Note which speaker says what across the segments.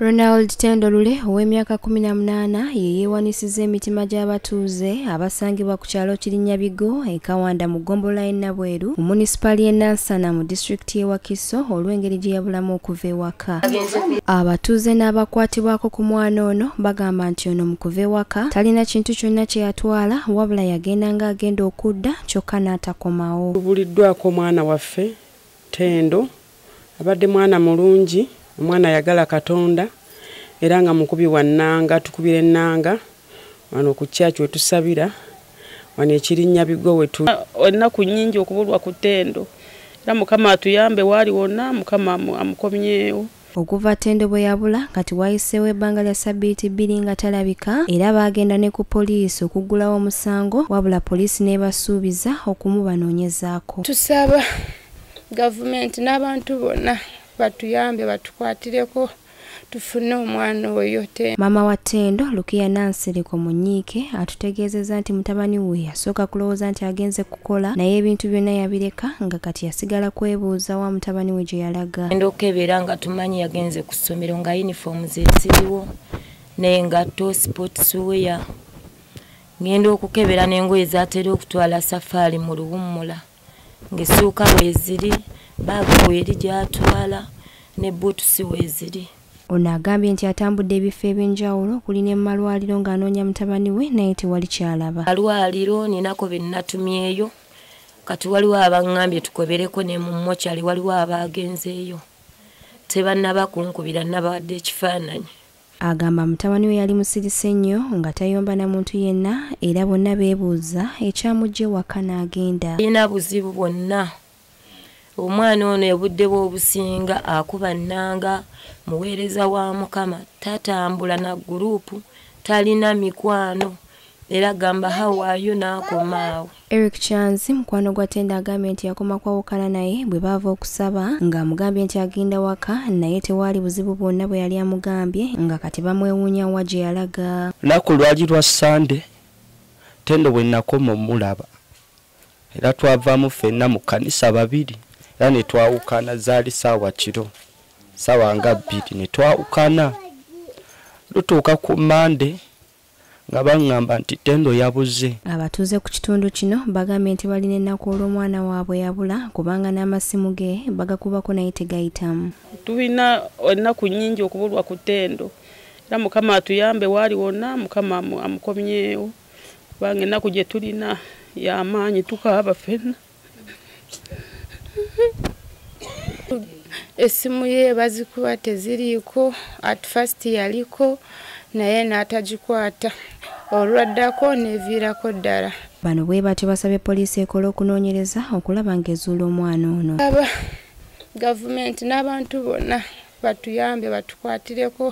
Speaker 1: Ronald Tendo Lule ow'emyaka 18 ye yeewanisiza emitima gy'abatuuze abasangibwa ku kyalo Kirinyabigo e Kawanda mu ggombolola y'e Nabweru mu munisipaali y'e Nansana mu disitulikiti y'e Wakiso olw'engeri gye yabulamu okuva ewaka. Abatuuze n'abakwatibwako ku mwana ono bagamba nti ono mu kuva ewaka talina kintu kyonna kye yatwala wabula yagenda ng'agenda okudda kyokka n'atakomawo. Tubuliddwako omwana
Speaker 2: waffe Tendo Abadde mwana mulungi, omwana ayagala Katonda era nga mukubi wa nnanga. Tukubira ennanga wano ku church we tusabira wano ekirinnya bigo we tu. Ennaku nnyingi
Speaker 3: okubulwa ku Tendo era Mukama atuyambe waali wonna Mukama amukomyewo. Okuva Tendo
Speaker 1: bwe yabula kati wayiseewo ebbanga lya ssabbiiti bbiri nga talabika era baagenda ne ku poliisi okuggulawo omusango wabula poliisi n'ebasuubiza okumubanoonyezaako. Tusaba.
Speaker 4: gavumenti n'abantu bonna batuyambe batukwatireko tufune omwana oyo te maama wa ttendo
Speaker 1: lukiya nansiriko munyiike atutegeezezza nti mutabani we yasooka kulowooza nti agenze kukola naye ebintu byonna yabireka nga kati yasigala kwebuuza wa mutabani we gye yalaga enda okukebera nga
Speaker 5: tumanyi yagenze ku ssomero nga yunifoomu zesiriwo naye ngatto sipootisiweya ngenda okukebera n'engoye zatera okutwala safaari mu luwummula ng'essuuka weeziri baaga weeri gy'atwala ne buutusi weeziri ono agambye
Speaker 1: nti atambudde ebifo ebyenjawulo okuli ne mumalwaliro ng'anoonya mutabani we naye tewali kyalaba malwaliro ninako
Speaker 5: be nnatumyeyo kati waliwo abaŋŋambye tukobereko ne mu mokyali waliwo abaagenzeeyo tebannaba kunkubira nnabawadde ekifaananyi Agamba
Speaker 1: mutabani we yali musirise nnyo nga tayomba na muntu yenna era bonna beebuuza ekyamujja ewaka n'agenda. Alina buzibu
Speaker 5: bwonna. Omwana ono ebudde bw'obusinga akuba nnanga muweereza wa Mukama tatambula na guruupu talina mikwano era gamba hawaayo n'akomaawo. Eric Chanzi
Speaker 1: mukwano gwa Tenda agambye nti yakoma kwawukana naye bwe baava okusaba ng'amugambye nti agenda waka naye tewaali buzibu bwonna bwe yali amugambye nga kati bamwewuunya wa gye yalaga. Lunaku lwali lwa
Speaker 6: Ssande Tendo bwe nakoma omulaba era twavaamu ffenna mu kkanisa babiri era ne twawukana zaali saawa kiro saawa nga bbiri ne twawukana lutuuka ku Mande nga baŋŋamba nti ttendo yabuze abatuuze ku kitundu
Speaker 1: kino bagambye nti balina ennaku olw'omwana waabwe yabula kubanga n'amasimu ge bagakubako naye tegayitamu tulina
Speaker 3: ennaku nnyingi okubulwa ku ttendo era mukama atuyambe waali wonna mukama amukomyewo kubanga ennaku gye tulina yamaanyi tukaaba fenna
Speaker 4: esimu ye bazikuba teziriiko at first yaliko naye n'atagikwata olwaddako neviirako ddala bano bwe batyo
Speaker 1: basabye poliisi ekola okunoonyereza okulaba ng'ezuula omwana ono aba
Speaker 4: gavumenti n'abantu bonna batuyambe batukwatireko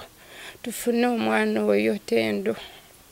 Speaker 4: tufune omwana oyo tendo